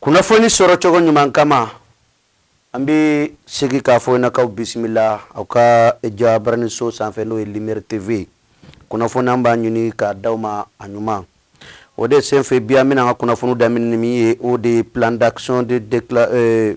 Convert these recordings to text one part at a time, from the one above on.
Kunnafoni sɔrɔcogo ɲuman kama an bɛ segin k'a fɔ k'aw bisimila aw ka jabaraninso sanfɛ n'o ye Lumière TV kunnafoni an b'a ɲini k'a di aw ma a ɲuman o de senfɛ bi an bɛna an ka kunnafoni daminɛ ni min ye o de ye plan d'action de de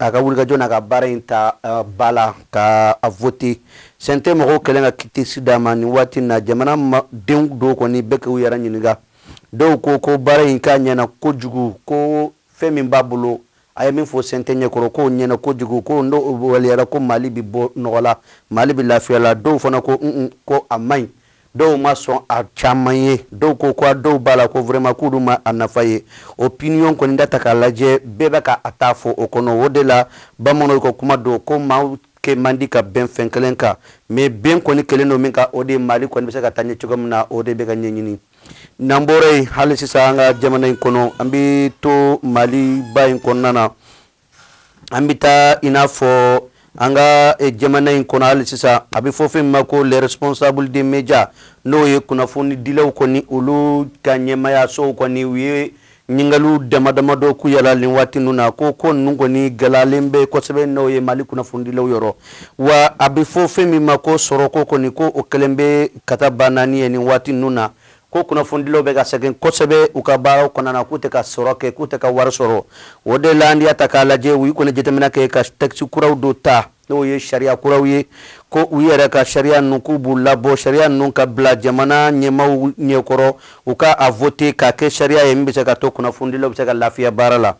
a ka wulikajɔ na ka baara in ta ba la ka a vote CNT mɔgɔw kɛlen ka quitus d'a ma nin waati na jamanadenw dɔw kɔni bɛ ka u yɛrɛ ɲininka dɔw ko ko baara in k'a ɲɛna kojugu ko fɛn min b'a bolo a ye min fɔ CNT ɲɛkɔrɔ k'o ɲɛna kojugu ko n'o waliyara ko mali bɛ bɔ nɔgɔ la mali bɛ lafiya la dɔw fana ko ko a man ɲi Dɔw ma sɔn a caman ye dɔw ko ko dɔw b'a la ko vraiment k'u dun ma a nafa ye opinion kɔni da ta k'a lajɛ bɛɛ bɛ ka a ta fɔ o kɔnɔ o de la bamananw ka kuma don ko maa kɛ man di ka bɛn fɛn kelen kan mɛ bɛn kɔni kɛlen don min kan o de mali kɔni bɛ se ka taa ɲɛ cogo min na o de bɛ ka ɲɛɲini n'an bɔra yen hali sisan an ka jamana in kɔnɔ an bɛ to maliba in kɔnɔna na an bɛ taa i n'a fɔ an ka jamana in kɔnɔ hali sisan a bɛ fɔ fɛn min ma ko les responsables des médias n'o ye kunnafonidilaw kɔni olu ka ɲɛmayaso kɔni u ye ɲininkali damadama dɔ k'u yɛrɛ la nin waati ninnu na ko ko ninnu kɔni gɛlɛyalen bɛ kosɛbɛ n'o ye mali kunnafonidilaw yɔrɔ wa a bɛ fɔ fɛn min ma ko sɔrɔ ko kɔni ko o kɛlen bɛ katabanaani ye nin waati ninnu na ko kunnafonidilaw bɛ ka sɛgɛn kosɛbɛ u ka baaraw kɔnɔna na k'u tɛ ka sɔrɔ kɛ k'u tɛ ka wari sɔrɔ o de la n'i y'a ta k'a lajɛ u ye kɔni jateminɛ kɛ ka tɛkisi kuraw dɔ ta n'o ye sariya kuraw ye ko u yɛrɛ ka sariya ninnu k'u b'u labɔ sariya ninnu ka bila jamana ɲɛmaaw ɲɛkɔrɔ u ka a vote k'a kɛ sariya ye min bɛ se ka to kunnafonidilaw bɛ se ka lafiya baara la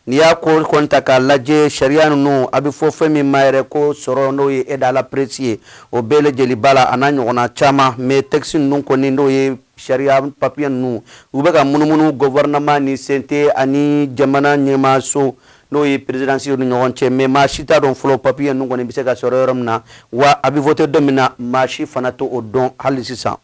N'i y'a ko kɔni ta k'a lajɛ sariya ninnu a bɛ fɔ fɛn min ma yɛrɛ ko sɔrɔ n'o ye aide à la presse ye o bɛɛ lajɛlen b'a la a n'a ɲɔgɔnna caman mɛ tɛkisi ninnu kɔni n'o ye sariya papiye ninnu u bɛ ka munumunu gouvernement ni CNT ani jamana ɲɛmaso n'o ye présidence ye ni ɲɔgɔn cɛ mɛ maa si t'a dɔn fɔlɔ papiye ninnu kɔni bɛ se ka sɔrɔ yɔrɔ min na wa a bɛ vote don min na maa si fana t'o dɔn hali sisan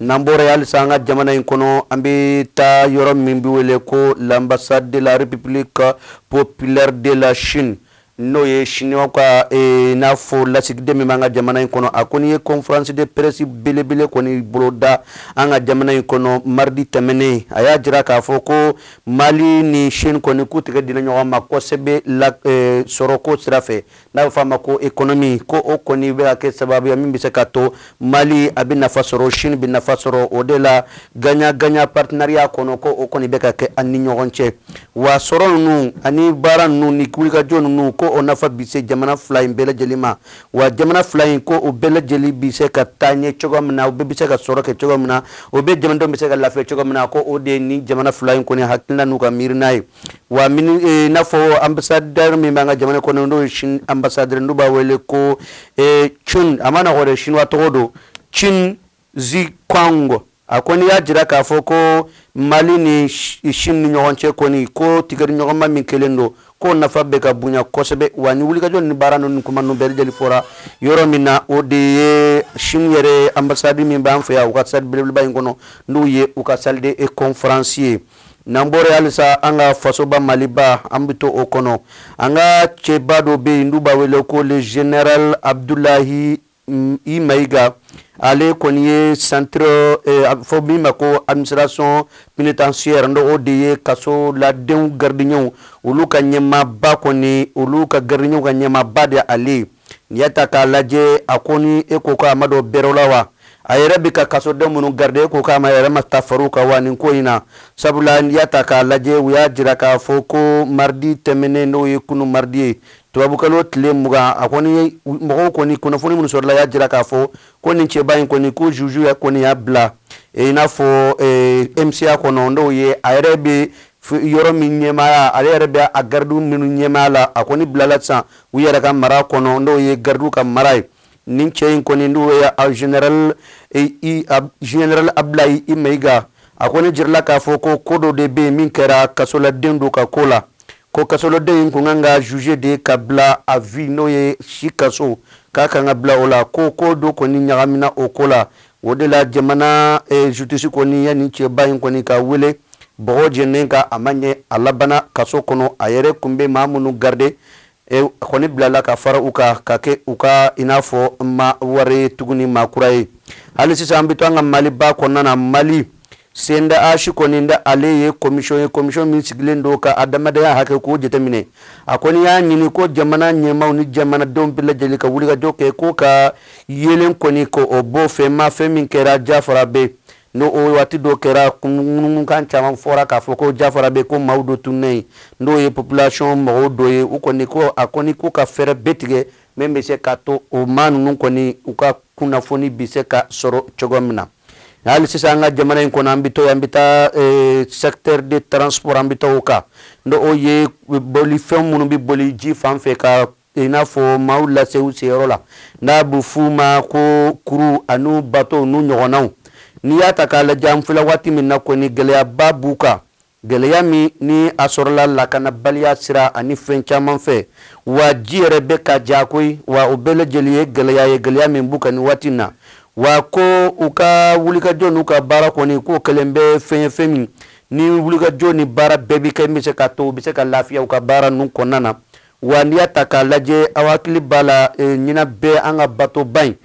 N'an bɔra yen hali sa an ka jamana in kɔnɔ an bɛ taa yɔrɔ min bɛ wele ko l'ambassade de la République populaire de la Chine n'o ye Chine ka n'a fɔ lasigiden min bɛ an ka jamana in kɔnɔ a kɔni ye conférence de presse belebele kɔni boloda an ka jamana in kɔnɔ mardi tɛmɛnen a y'a jira k'a fɔ ko mali ni Chine kɔni k'u tigɛ di ɲɔgɔn ma kosɛbɛ sɔrɔko sira n'a bɛ fɔ a ma ko économie ko o kɔni bɛ ka kɛ sababu ye min bɛ se ka to Mali a bɛ nafa sɔrɔ Chine bɛ nafa sɔrɔ o de la gagnant gagnant partenariat kɔnɔ ko o kɔni bɛ ka kɛ an ni ɲɔgɔn cɛ wa sɔrɔ ninnu ani baara ninnu ni wulikajɔ ninnu ko o nafa bi se jamana fila in bɛɛ lajɛlen ma wa jamana fila in ko o bɛɛ lajɛlen bi se ka taa ɲɛ cogoya min na o bɛɛ bɛ se ka sɔrɔ kɛ cogoya min na o bɛɛ jamanadenw bɛ se ka lafiya cogoya min na ko o de ye nin jamana fila in kɔni hakilina n'u ka miirina ye Wa eh, n'a fɔ ambassadeur min b'an ka jamana kɔnɔ n'o ye ambassadeur n'u b'a wele ko eh, Chen a man nɔgɔ sinuwa tɔgɔ don Chen Zhihong a kɔni y'a jira k'a fɔ ko Mali ni Chine ni ɲɔgɔn cɛ kɔni ko tɛgɛdiɲɔgɔnma min kɛlen don k'o nafa bɛ ka bonya kosɛbɛ wa ni wulikajɔ ni baara ninnu kuma ninnu bɛɛ lajɛlen fɔra yɔrɔ min na o de ye Chine yɛrɛ ambassade min b'an fɛ yan u ka salle beleba in kɔnɔ n'o ye u ka salle de conférence ye n'an bɔra halisa an ka fasoba maliba an bɛ to o kɔnɔ an ka cɛba dɔ bɛ yen n'u b'a wele ko le général Abdoulaye I Maïga ale kɔni ye centre fɔ min ma ko administration pénitentiaire dɔ o de ye kasoladenw gardienw olu ka ɲɛmaaba kɔni olu ka gardienw ka ɲɛmaaba de ale ye N'i y'a ta k'a lajɛ a kɔni e ko ko a ma dɔ bɛrɛ la wa a yɛrɛ bɛ ka kasodenw minnu garide e ko k'a ma yɛrɛ ma taa far'u kan wa nin ko in na sabula n'i y'a ta k'a lajɛ u y'a jira k'a fɔ ko maridi tɛmɛnen n'o ye kunun maridi ye tubabukalo tile mugan a kɔni mɔgɔw kɔni kunnafoni minnu sɔrɔla y'a jira k'a fɔ ko nin cɛba in kɔni ko zuzu ya kɔni y'a bila e i n'a fɔ MCA kɔnɔ n'o ye a yɛrɛ bɛ yɔrɔ min ɲɛmaaya ale yɛrɛ bɛ a gardienw minnu ɲɛmaaya la a kɔni bilala sisan u yɛrɛ ka mara kɔnɔ n'o ye garidiw ka mara ye nin cɛ in kɔni n'o ye général général Abdoulaye I Maïga a kɔni jirala k'a fɔ ko ko dɔ de bɛ min kɛra kasoladen dɔ ka ko la ko kasoladen in tun kan ka jugé de ka bila à vie n'o ye si kaso k'a kan ka bila o la ko ko dɔ kɔni ɲagamina o ko la o de la jamana eh, justice kɔni ye nin cɛba in kɔni k'a wele bɔgɔjɛnin kan a ma ɲɛ a labana kaso kɔnɔ a yɛrɛ kun bɛ maa minnu garde eh, a kɔni bilala ka fara u kan ka kɛ u ka i n'a fɔ maa wɛrɛ tuguni maa kura ye hali sisan an bɛ to an ka maliba kɔnɔna na mali CNDH kɔni n'ale ye commission ye commission min sigilen don ka adamadenya hakɛ k'o jateminɛ a kɔni y'a ɲini ko jamana ɲɛmaaw ni jamanadenw bɛɛ lajɛlen ka wulikajɔ kɛ k'u ka yeelen kɔni ko o bɔ fɛn ma fɛn min kɛra Diafarabé n'o o waati dɔ kɛra kununkan caman fɔra k'a fɔ ko Diafarabé ko maaw dɔ tununnen n'o ye population mɔgɔw dɔ ye u kɔni ko a kɔni k'u ka fɛɛrɛ bɛɛ tigɛ min bɛ se k'a to o maa ninnu kɔni u ka kunnafoni bɛ se ka sɔrɔ cogo min na hali sisan an ka jamana in kɔnɔ an bɛ to an bɛ taa eh, secteur de transport an bɛ taa o kan n'o o ye bolifɛn minnu bɛ boli ji fan fɛ ka i n'a fɔ maaw lase u seyɔrɔ la n'a bɛ f'u ma ko kurun ani bato n'u ɲɔgɔnnaw n'i y'a ta k'a lajɛ an filɛ waati min na kɔni gɛlɛyaba b'u kan Gɛlɛya min ni a sɔrɔla lakanabaliya sira ani fɛn caman fɛ, wa ji yɛrɛ bɛ ka ja koyi, wa o bɛɛ lajɛlen ye gɛlɛya ye, gɛlɛya min b'u kan nin waati in na, wa ko u ka wulikajɔ n'u ka baara kɔni, k'o kɛlen bɛ fɛn ye, fɛn min ni wulikajɔ ni baara bɛɛ bɛ kɛ, min bɛ se k'a to u bɛ se ka lafiya u ka baara ninnu kɔnɔna na. Wa n'i y'a ta k'a lajɛ, aw hakili b'a la ɲinan bɛɛ an ka batoba in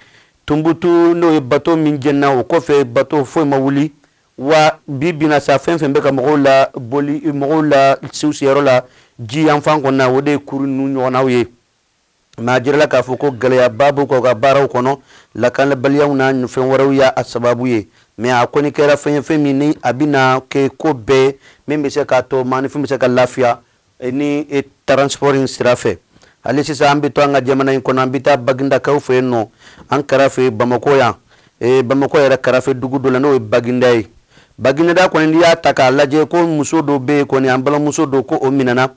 Tunbutu, n'o ye bato min jenina, o kɔfɛ bato foyi ma wuli, wa bi bi in na sa fɛn fɛn bɛ ka mɔgɔw la boli mɔgɔw lase u seyɔrɔ la ji yanfan kɔnɔ na o de ye kurun ninnu ɲɔgɔnnaw ye n'a jirala k'a fɔ ko gɛlɛyaba b'u ka ka baaraw kɔnɔ lakanabaliyaw na ani fɛn wɛrɛw y'a a sababu ye mɛ a kɔni kɛra fɛn ye fɛn min ni a bɛna kɛ ko bɛɛ min bɛ se k'a to maaninfin bɛ se ka lafiya E nin e transport in sira fɛ hali sisan an bɛ to an ka jamana in kɔnɔ an bɛ taa bagindakaw fɛ yen nɔ an kɛrɛfɛ bamakɔ yan e, bamakɔ yɛrɛ kɛrɛfɛ dugu dɔ la n'o ye baginda ye baginda kɔni n'i y'a ta k'a lajɛ ko muso dɔ bɛ yen kɔni an balimamuso don ko o minɛna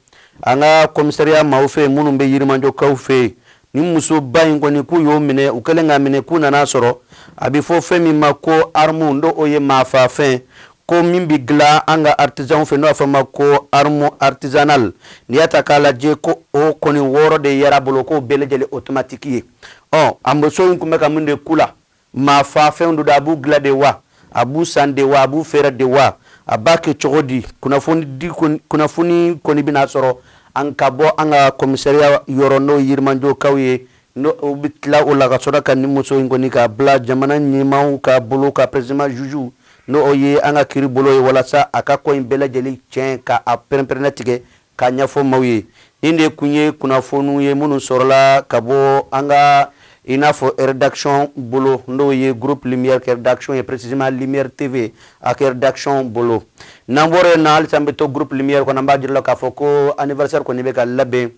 an ka kɔmisariya maaw fɛ yen minnu bɛ yirimajokaw fɛ yen nin musoba in kɔni k'u y'o minɛ u kɛlen k'a minɛ k'u nan'a sɔrɔ a bɛ fɔ fɛn min ma ko armu n'o o ye maafaafɛn ko min bɛ dilan an ka aritisanw fɛ n'a bɛ f'a ma ko armu aritisanali n'i y'a ta k'a lajɛ ko o kɔni wɔɔrɔ de yer'a bolo k'o bɛɛ lajɛlen otomatiki ye ɔ a muso in tun bɛ ka mun de k'u la Maafaafɛnw don a b'u dilan de wa a b'u san de wa a b'u feere de wa a b'a kɛ cogo di kunnafoni kɔni bɛna sɔrɔ an ka bɔ an ka kɔmisariya yɔrɔ n'o yirimajokaw ye n'u bɛ tila o la ka sɔrɔ ka nin muso in kɔni k'a bila jamana ɲɛmaaw ka bolo kan précisément juge n'o ye an ka kiiri bolo ye walasa a ka ko in bɛɛ lajɛlen tiɲɛ k'a perenperennatigɛ K'a ɲɛfɔ maaw ye, nin de tun ye kunnafoniw ye minnu sɔrɔla ka bɔ an ka i n'a fɔ redaction bolo, n'o ye Groupe Lumière ka redaction ye précisément Lumière TV a ka redaction bolo. N'an bɔra yen nɔ, halisa an bɛ to Groupe Lumière kɔnɔ, an b'a jira aw la k'a fɔ ko anniversaire kɔni bɛ ka labɛn,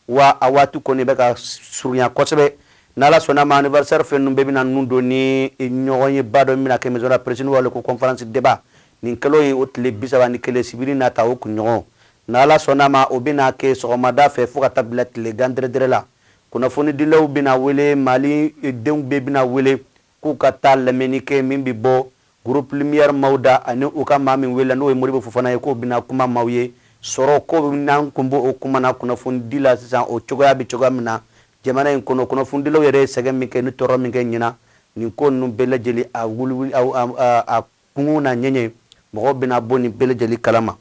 wa a waati kɔni bɛ ka surunya kosɛbɛ. Ni Ala sɔnn'a ma, anniversaire fɛn ninnu bɛɛ bɛna ninnu don ni ɲɔgɔnyeba dɔ min bɛna kɛ maison de la presse n'o ye ale ko conférence débat Nin kalo ye o tile bi saba ni kelen sibiri nata o kunɲɔgɔn. Ni Ala sɔnn'a ma, o bɛna kɛ sɔgɔmada fɛ fo ka taa bila tilegan dɛrɛdɛrɛ la. Kunnafonidilaw bɛna wele, Mali denw bɛɛ bɛna wele k'u ka taa lamɛnni kɛ min bɛ bɔ Groupe Lumière maaw da ani u ka maa min welela n'o ye Modibo Fofana ye k'o bɛna kuma maaw ye sɔrɔ ko min na. An kun b'o o kuma na kunnafonidi la sisan, o cogoya bɛ cogoya min na jamana in kɔnɔ, kunnafonidilaw yɛrɛ ye sɛgɛn min kɛ ni tɔɔrɔ min kɛ ɲinan nin ko ninnu bɛɛ lajɛlen a wuli a Kungow na ɲɛɲɛ, mɔgɔw bɛna bɔ nin bɛɛ lajɛlen kalama.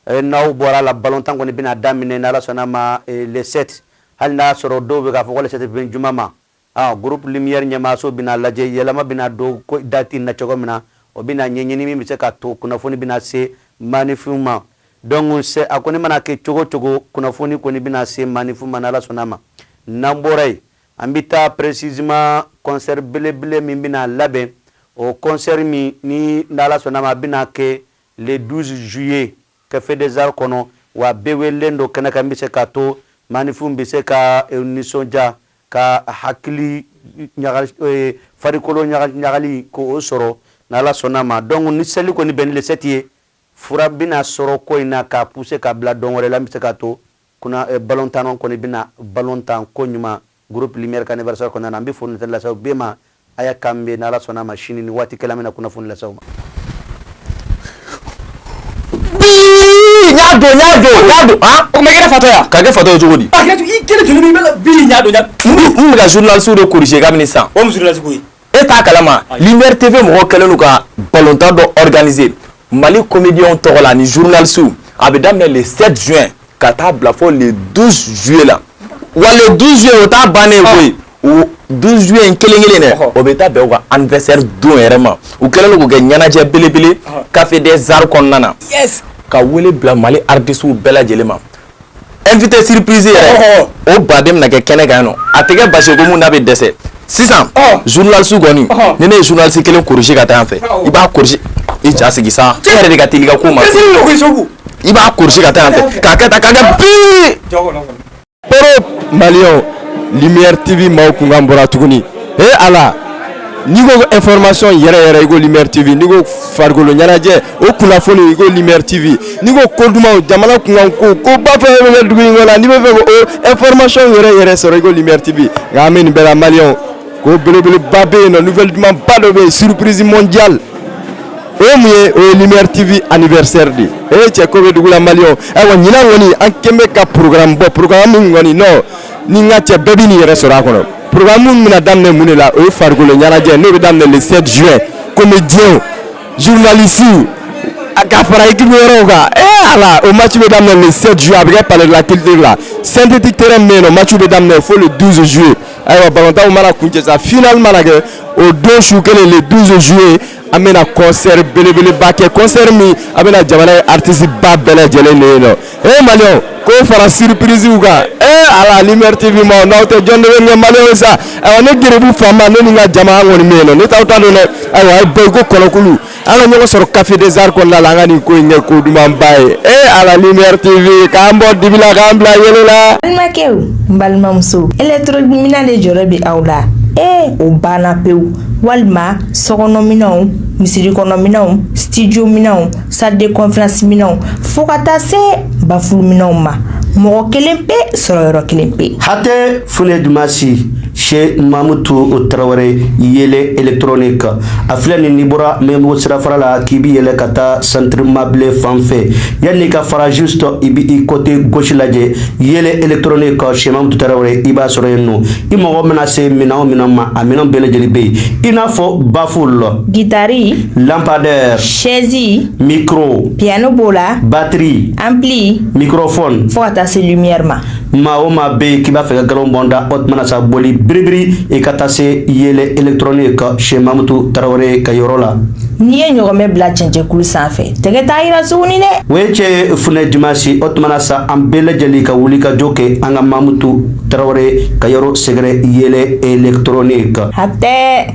Ɛ n'aw bɔra a la, balontan kɔni bɛna daminɛ ni Ala sɔnn'a ma le 7, hali n'a y'a sɔrɔ dɔw bɛ k'a fɔ ko le 7 bɛ bɛn juma ma. Ɔ groupe Lumière ɲɛmaayaso bɛna a lajɛ yɛlɛma bɛna don ko date in na cogo min na, o bɛna ɲɛɲini min bɛ se ka to kunnafoni bɛna se maanifinw ma. Donc a kɔni mana kɛ cogo o cogo, kunnafoni kɔni bɛna se maanifinw ma ni Ala sɔnn'a ma. N'an bɔra yen, An bɛ taa précisément concert belebele min bɛna labɛn, o concert min ni n'Ala sɔnna a ma a bɛna kɛ le 12 juillet Café des Arts kɔnɔ, wa bɛɛ welelen don kɛnɛ kan min bɛ se k'a to maanifinw bɛ se ka u nisɔndiya ka hakili farikolo ɲagali k'o sɔrɔ ni Ala sɔnna a ma. Donc ni seli kɔni bɛnna le 7 ye, fura bɛna sɔrɔ ko in na k'a pousser k'a bila don wɛrɛ la min bɛ se k'a to Kuna balontannaw kɔni bɛna balontan koɲuman groupe lumière ka anniversaire kɔnɔna na, an bɛ foli lase aw bɛɛ ma, ayiwa k'an bɛn, ni Ala sɔnn'a ma sini nin waati kelen an bɛna kunnafoni lase aw ma. Bii ɲa don ɲa don ɲa don han o tun bɛ kɛ ne fatɔ ye wa ka kɛ fatɔ ye cogo di Hakɛto i kelen joli bɛ i bɛ ka bii ɲa don ɲa don n tun bɛ ka journalistes de corriger kabini sisan o ye mun journaliste ko ye e t'a kalama lumière TV mɔgɔw kɛlen don ka balontan dɔ organiser Mali comédiens tɔgɔ la ani journalistes a bɛ daminɛ le 7 juin ka taa bila fo le 12 juillet la wa le 12 juillet o t'a bannen ye koyi o 12 juillet in kelen kelen dɛ o bɛ taa bɛn u ka anniversaire don yɛrɛ ma u kɛlen don k'o kɛ ɲɛnajɛ belebele café des arts kɔnɔna na ka wele bila Mali artistes bɛɛ lajɛlen ma. invité surprise yɛrɛ o baden bɛna kɛ kɛnɛ kan nɔ a tɛ kɛ basi ko mun n'a bɛ dɛsɛ sisan journaliste kɔni ni ne ye journaliste kelen corriger ka taa yan fɛ i b'a corriger i ja sigi sa e yɛrɛ de ka teli i ka ko ma i b'a corriger ka taa yan fɛ k'a kɛ tan k'a kɛ bii poro maliyɛnw lumière tv maaw kunkan bɔra tuguni he ala n'i ko ko information yɛrɛ yɛrɛ i ko lumière tv n'i ko farikolo ɲɛnajɛ o kunnafoni ko lumière tv n'i ko ko dumanw jamana kunkanko koba fɛn fɛn bɛ kɛ dugu in kɔnɔ n'i b'a fɛ k'o information yɛrɛ yɛrɛ sɔrɔ i ko lumière tv nka an bɛ nin bɛɛ la maliyɛnw ko belebeleba bɛ yen nɔ nouvelle dumanba dɔ bɛ yen surprise mondiale o ye mun ye o ye lumière tv anniversaire de ye o ye cɛ ko bɛ dugu la maliyɛnw ayiwa ɲinan kɔni an kɛlen bɛ ka programme bɔ programme min kɔni nɔ ni n ka cɛ bɛɛ b'i niyɔrɔ sɔrɔ a kɔnɔ programme min bɛna daminɛ mun de la o ye farikolo ɲɛnajɛ n'o bɛ daminɛ le 7 juin comédien journaliste a ka fara équipe wɛrɛw kan ee ala o match bɛ daminɛ le 7 juillet a bɛ kɛ palais de la culture la synthétique terrain min bɛ yen nɔ match bɛ daminɛ fo le 12 juillet ayiwa balontan o mana kuncɛ sa final mana kɛ o don su kelen le 12 juillet an bɛna concert belebeleba kɛ concert min a bɛna jamana ye artiste ba bɛɛ lajɛlen bɛ yen nɔ Ee mali ko fara surprisew kan ee à la lumière tv ma n'aw tɛ jɔn kɛ mali sa ne gbu faama ne ka jama kɔni min na ne taa ta don ayiwa bɛɛ ko kɔnɔkulu an ka ɲɔgɔn sɔrɔ café des arts kɔnɔ la an ka nin ko in kɛ ko dumanba ye e à la lumière tv k'an bɔ dibi la k'an bila yeelen la balimakɛ balimamuso électro minɛn de jɔrɔ bɛ aw la ee o banna pewu walima sokɔnɔminɛn misiri kɔnɔminɛnw studio minɛnw salle de conférence minɛnw fo ka taa se bafuruminɛnw ma mɔgɔ kelen pe sɔrɔ yɔrɔ kelen pe hatɛ funɛ jumasi chez mamutu tarawele yeelen électronique a filɛ nin n'i bɔra maɲanbugu sirafara la k'i bi yɛlɛ ka taa centre mabilé fan fɛ yanni ka fara juste i bi i côté gauche lajɛ yeelen électronique chez mamutu tarawele i b'a sɔrɔ yen nɔ i mako mana se minɛn o minɛn ma a minɛn bɛɛ lajɛlen bɛ yen i n'a fɔ baful gitari lampadaire sɛzi mikro piano b'o la batiri ampli mikrofone fɔɔ ka taa se lumière ma maa o maa be k'i b'a fɛ ka galon bɔ n da o tuma na sa boli biribiri i ka taa se yeelen électronique chez mamutu tarawele ka yɔrɔ la n'i ye ɲɔgɔmɛ bila cɛncɛnkulu san fɛ tɛgɛ t'a yira tuguni dɛ o ye cɛ funɛ jumasi o tuma na sa an bɛɛ lajɛlen ka wuli ka jɔ kɛ an ka mamutu tarawele ka yɔrɔ sɛgɛrɛ yeelen électronique hatɛ